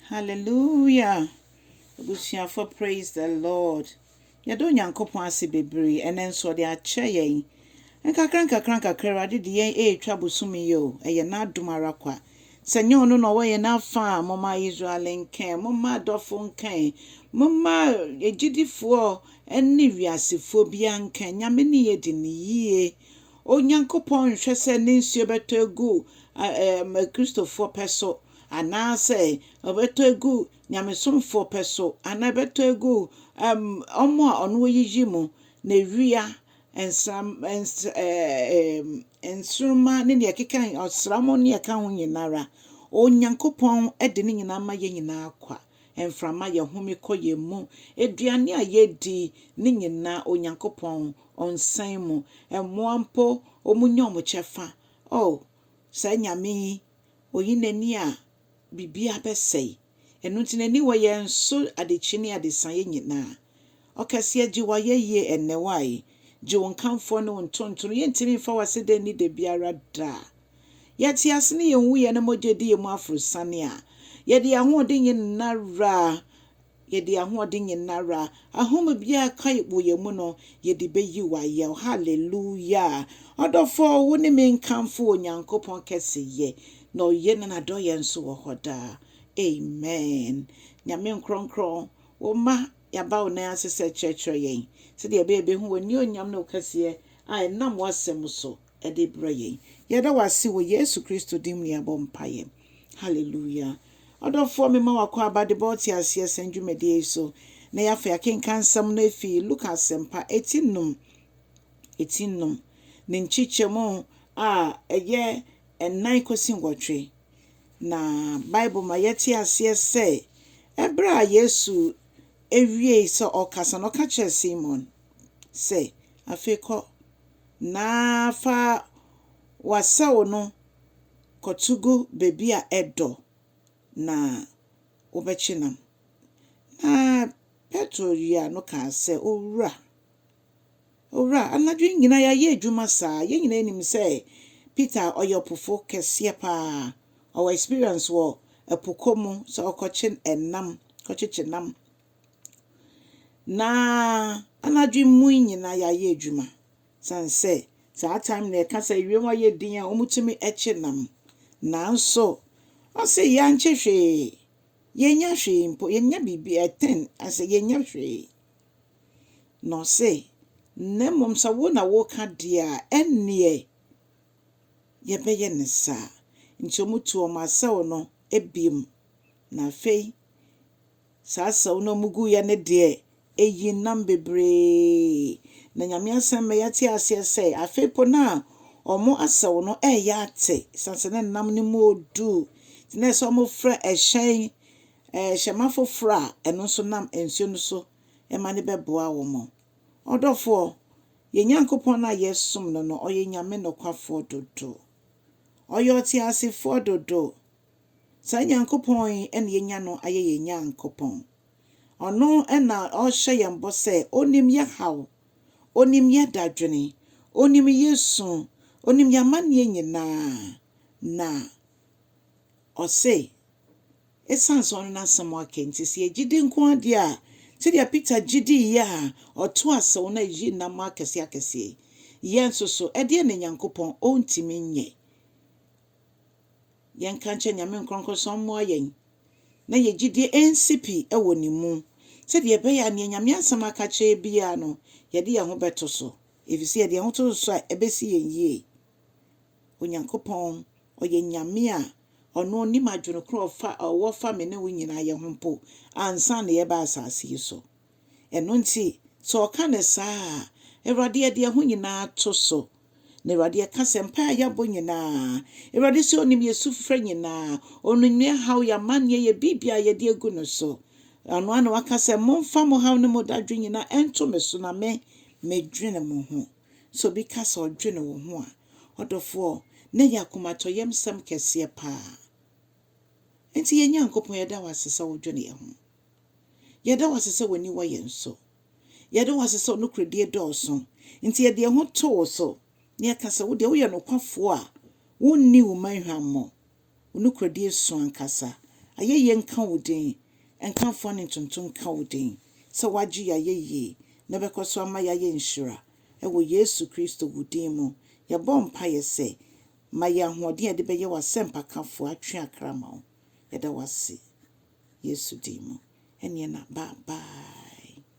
Hallelujah abusuafo praise the Lord yɛda Onyankopɔn ase bebree ɛnɛ nso ɔde akyɛ yɛn nkakra nkakra nkakra Awurade de yɛn ɛretwa bosome yi o ɛyɛ n'adom ara kwa sɛ nyɛ ɔno na ɔwɔ yɛn afa a moma Israel nkɛn moma adɔfo nkɛn moma agyidifoɔ ne wiasefoɔ bia nkɛn nyame ne yɛ di ne yie Onyankopɔn nhwɛ sɛ ne nsuo bɛtɔ egu kristofoɔ pɛ so Anaasɛ ɔbɛtɔ agu nyamesomfoɔ pɛ so, anaa ɛbɛtɔ agu wɔn a ɔno ɔyiyi mu, na awia, nsram, ns, ɛɛ, nsoromma ne deɛ ɛkeka, ɔsram ne deɛ ɛka ho nyina ara. Onyankopɔn de ne nyinaa ma yɛn nyinaa kwa. Mframa, yɛhome kɔ yɛn mu. Aduane a yɛdi, ne nyinaa Onyankopɔn, Ɔnsɛn mu. Mmoa mpo, wɔnya wɔn kyɛfa. Oh! Saa Nyame yi, oyi n'ani a, biribiara bɛsɛe. Ɛno nti n'ani wɔ yɛn so adekye ne adesaeɛ nyinaa. Ɔkɛseɛ, gye w'ayɛyie ɛnnɛ, wai, gye wo nkamfoɔ ne wo ntontono. Yɛntumi mfa w'aseda nni da biara da. Yɛte ase ne yɛn nwuiɛ na mogya di yɛn mu aforosiane a, yɛde yɛn ahoɔden nyinara Yɛde ahoɔden nyinara, ahome biara a ɛka wɔ yɛn mu no, yɛde bɛyi wo ayɛ. O Hallelujah! Ɔdɔfoɔ, wo ne me nkamfo Onyankopɔn kɛseyɛ, na ɔyɛ na n'adɔeɛ nso wɔ hɔ daa. Amen. Nyame nkorɔnkorɔn, wo mma yɛaba wo nan ase sɛ kyerɛkyerɛ yɛn sɛdeɛ ɛbɛyɛ yɛbɛhu w'aniuonyam ne wo kɛseɛ a ɛnam w'asɛm so. de brɛ yɛn. Yɛda wo ase wɔ Yesu Kristo din mu na yɛabɔ mpaeɛ. Hallelujah. Ɔdɔfoɔ, mema w'akwaaba de bɔ ɔteaseɛ sɛn dwumadie yi so. Na yɛafa yɛakenka nsɛm no afi Luka Asɛmpa eti nnum, eti nnum, ne nkyekyɛmu a ɛyɛ nnan kɔsi nwɔtwe. Na Bible ma yɛte aseɛ sɛ, ɛberɛ a Yesu wiee sɛ ɔrekasa no, ɔka kyerɛɛ Simon sɛ, Afei kɔ, na fa w'asau no kɔto gu baabi a ɛdɔ na wobɛkye nam. Na Petro yea no kaa sɛ, Owura, Owura, anadwo yi nyinaa yɛayɛ adwuma saa. Yɛn nyinaa nim sɛ Peter ɔyɛ ɔpofo kɛseɛ paa. Ɔwɔ experience wɔ ɛpo kɔ mu sɛ ɔkɔkye nam, kɔkyekye nam. Na anadwo mu nyina yɛayɛ edwuma san sɛ saa time no yɛka sɛ ewiem hɔ ayɛ din a wɔtumi kye nam. Nanso ɔse yɛannkye hwee, yɛnnya hwee mpo, yɛnnya biribi ɛtɛn asɛ yɛnnya hwee. Na ɔse na mmom sɛ wo na woka deɛ a ɛnneɛ yɛbɛyɛ ne saa. Nti wɔtu wɔn asau no ebiem. Na afei. Saa asau no a ɔmo guiɛ no deɛ ɛyii nnam bebree. Na Nyame asan ma yɛate aseɛ sɛ afei po no a ɔmo asau no ɛɛyɛ ate sane sɛ ne nnam no mu ɔɔdu. Nti na ɛsɛ sɛ ɔmo fra ɛhyɛn, ɛɛ hyɛma foforɔ a ɛno nso nam nsuo no so ma no bɛboa ɔmo. Ɔdɔfoɔ, yɛn Nyankopɔn no a yɛsom no no ɔyɛ Nyame nokwafoɔ dodo. Ɔyɛ ɔteasefoɔ dodo. Saa Nyankopɔn yi na yɛanya no ayɛ yɛn Nyankopɔn. Ɔno na ɔrehyɛ yɛn bɔ sɛ ɔnim yɛn haw, ɔnim yɛn dadwene, ɔnim yɛn su, ɔnim yɛn amanneɛ nyinaa, na ɔse, ɛsiane sɛ ɔne n'asɛm aka nti, sɛ yɛgye di nko ara deɛ a, sɛdeɛ Peter gye diiɛ a ɔtoo asau na ɛyii nam akɛseɛ akɛseɛ yi, yɛn nso so, ɛdeɛn na Nyankopɔn ɔntumi nyɛ? Yɛnka nkyerɛ Nyame nkorɔnkrɔnsɔn mmoa yɛn na yɛn gyidie ɛnsi pi wɔ Ne mu sɛdeɛ ɛbɛyɛ a neɛ Nyame asɛm aka kyerɛ yɛn biara no yɛde yɛn ho bɛto so ɛfiri sɛ yɛde yɛn ho to no so a ɛbɛsi yɛn yie. Onyankopɔn ɔyɛ Nyame a Ɔno ɔnim adwene korɔ a Ɔwɔ fa me ne wo nyinaa yɛ ho mpo ansa na yɛba asaase yi so. Ɛno nti, sɛ ɔka no saa a, Awurade yɛde yɛn ho nyinaa to so. Na Awurade yɛka sɛ mpae a yɛabɔ nyinaa, Awurade sɛ onim yɛn sufrɛ nyinaa, onim yɛn haw, yɛn amanneɛ, yɛn biribiara a yɛde agu no so. Ɔno ara na waka sɛ, Momfa mo haw ne mo dadwen nyinaa nto me so na me, medwene mo ho. Sɛ obi ka sɛ ɔdwene wo ho a, ɔdɔfoɔ, na ɛyɛ akomatɔyamsɛm kɛseɛ paa. Enti yɛn Nyankopɔn, yɛda wo ase sɛ wodwene yɛn ho. Yɛda wo ase sɛ w'aniwa yɛ nso. Yɛda wo ase sɛ wo nokorɛdie dɔɔso. Enti yɛde yɛn ho to wo so na yɛka sɛ, Wo deɛ woyɛ nokwafoɔ a wonni wo man hwammɔ. Wo nokorɛdie sõ ankasa. Ayɛyie nka wo din. Nkamfoɔ ne ntonto nka wo din sɛ woagye yɛn ayɛyie na wobɛkɔ so ama yɛayɛ nhyira. Wɔ Yesu Kristo wo din mu, yɛbɔ mpaeɛ sɛ, Ma yɛn ahoɔden a yɛde bɛyɛ w'asɛmpakafoɔ atwe akra ma wo. Yɛda wo ase Yesu din mu. Ɛneɛ na bye bye.